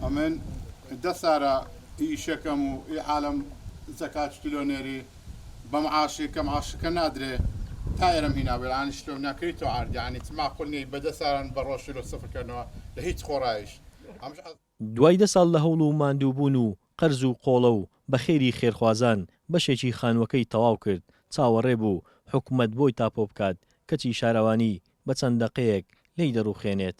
ئەمن دە سارە ئی ئیشەکەم و ئی حالەم زەکات چتلۆ نێری بە معاشی کە معاشەکە نادرێ تا ئێرەم هینا بێ یانی شتۆم ناکری تۆ عارد یانی چ ماقول نیە ئی بە دە ساران بە ڕۆژ شلۆ سفر کەنۆ لە هیچ خۆڕایش ئەمش دوای دە ساڵ لە هەوڵ و ماندوو بوون و قەرز و قۆڵە و بە خێری خێرخوازان بەشێکی خانووەکەی تەواو کرد چاوەڕێ بوو حکومەت بۆی تاپۆ بکات کەچی شارەوانی بە چەند دەقەیەک لێی دەڕووخێنێت.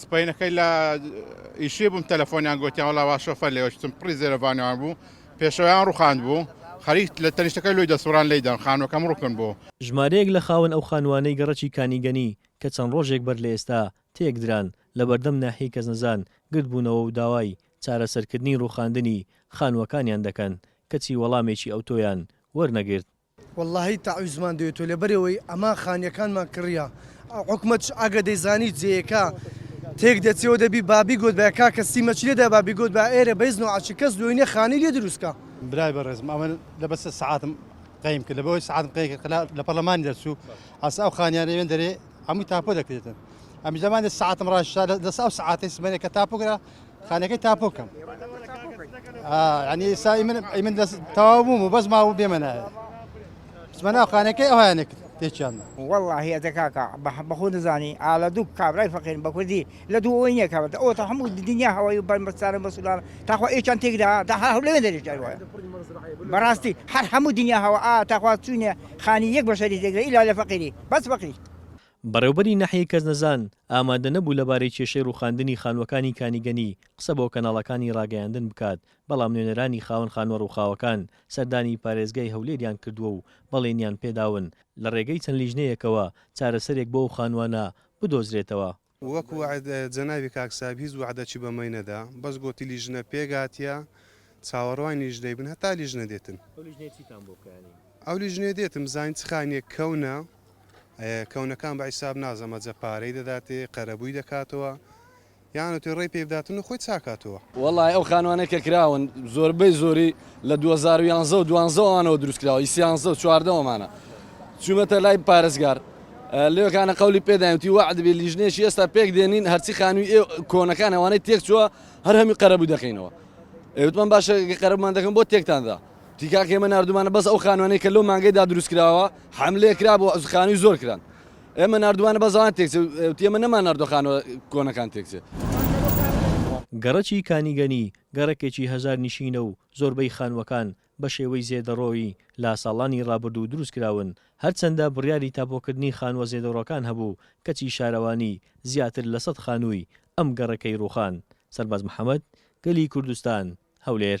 سپەینەکەی لە ئیشی بووم تەلەفۆنیان گوتیان وڵا وا شۆفەر لێوە شتم پڕی زێرەڤانیان بوو پێشەوەیان ڕوخاند بوو خەریک لە تەنیشتەکەی لۆی دەسوڕان لێی دەن خانووەکەم ڕوکن بوو. ژمارەیەک لە خاوەن ئەو خانووانەی گەڕەکی کانیگەنی کە چەند ڕۆژێک بەر لە ئێستا تێک دران لەبەردەم ناحیەی کەسنەزان گردبوونەوە و داوای چارەسەرکردنی ڕووخاندنی خانووەکانیان دەکەن کەچی وەڵامێکی ئەوتۆیان وەرنەگرت. وەڵاهی تەعویزمان دەوێت و لەبەرئەوەی ئەمان خانیەکانمان کڕیە حکومەتش ئەگەر دەیزانی جێیەکە تێک دەچێ و دەبی با بیگۆتبایە کاکە سیمەچی لێدا با بیگۆتبا ئێرە بەیس نوعەچی کەس لۆی نیە خانی لێ دروست کا. برای بەڕێزم ئەمە لە بەس سەعاتم قەیم کرد لەبەوەی سەعاتم قەی کرد خلا لە پەرلەمانی دەرچوو ئەس ئەو خانیانە وێن دەرێ هەمووی تاپۆ دەکرێتن ئەمیش لەمانێ سەعاتم ڕاشا لە دەس ئەو سەعاتەی سمێنێ کە تاپۆ کرا خانەکەی تاپۆ کەم ینی سای من ئەی من دەست تەواو بووم و بەس ماوە بێمەنایە سمەنا خانەکەی ئەوانێک تێکیان وەڵاهە دەکاکە بەخۆ دەزانی ئالە دوو کابرای فەقین بە کوردی لە دوو ئەوی نیە کابێت ئەو تا هەموو دنیا هەوای و بەرمەستانە بەسولان تاخوا ئێچان تێکدا دا هەر لەوێ دەریش وایە بەڕاستی هەر هەموو دنیا هەوە ئا تاخوا چوینە خانی یەک بەشەری تێکدا ئیلا لە فەقیری بەس فەقیری بەڕێوبەری ناحیەی کەسنەزان ئامادە نەبوو لەبارەی کێشەی روخاندنی خانوەکانی کانیگەنی قسە بۆ کەناڵەکانی راگەیاندن بکات، بەڵام نوێنەرانی خاوەن خانوە روخاوەکان سەردانی پارێزگای هەولێریان کردووە و بەڵێنیان پێداون لەڕێگەی چەند لیژنەیەکەوە چارەسەرێک بۆ ئەو خانوانە بدۆزرێتەوە. وەک وەعد جەنابی کاک ساحب هیچ وەعدەکی بەمەی نەدا بەس گۆتی لیژنە پێکهاتیە چاوەڕوانی لیژنەی بن هەتا لیژنە دێتن. ئەو لیژنەیە چیتان بۆ بکا یانی؟ ئەو لیژنەیە دێتن بزانین چ خانیەک کەونە کەونەکان بە عیساب ناز ئەمە جە پارەی دەداتێ قەرەبووی دەکاتەوە یان ئەتوێ ڕێی پێ بداتن و خۆی چاکاتەوە. وەڵای ئەو خانوانەی کە کراون زۆربەی زۆری لە دوو هەزار و یانزە و دوانزە وانەوە دروست کراوە ی سیانزە و چواردەوەمانە چوومەتە لای پارێزگار لێوەکانە قولی پێداینتی وەعدبی لیژنێکی ئێستا پێک دێنین هەرچی خانووی ئێ کۆنەکان ئەوانەی تێک چووە هەر هەمی قەرەبوو دەکەینەوە ئێوتمان باشە قەرەبمان دەکەن بۆ تێکتاندا تکاک ئێمە ناردومانە بەس ئەو خانوانەی کە لەو مانگەیدا دروست کراوە حملەیە کرا بۆ خانووی زۆر کران ئێمە نردوانە بەزان تێک ئێمە نەمان نردۆ خانوە کۆنەکان تێکچێت. گەڕەکی کانیگەنی گەڕەکێکی هەژار نشینە و زۆربەی خانووەکان بە شێوەی زێدەڕۆیی لە ساڵانی ڕابردوو دروست کراون، هەرچەندە بڕیاری تاپۆکردنی خانووە زێدەڕۆکان هەبوو، کەچی شارەوانی زیاتر لە سەد خانووی ئەم گەڕەکەی ڕووخاند. سەرباز محەمەد، گەلی کوردستان، هەولێر.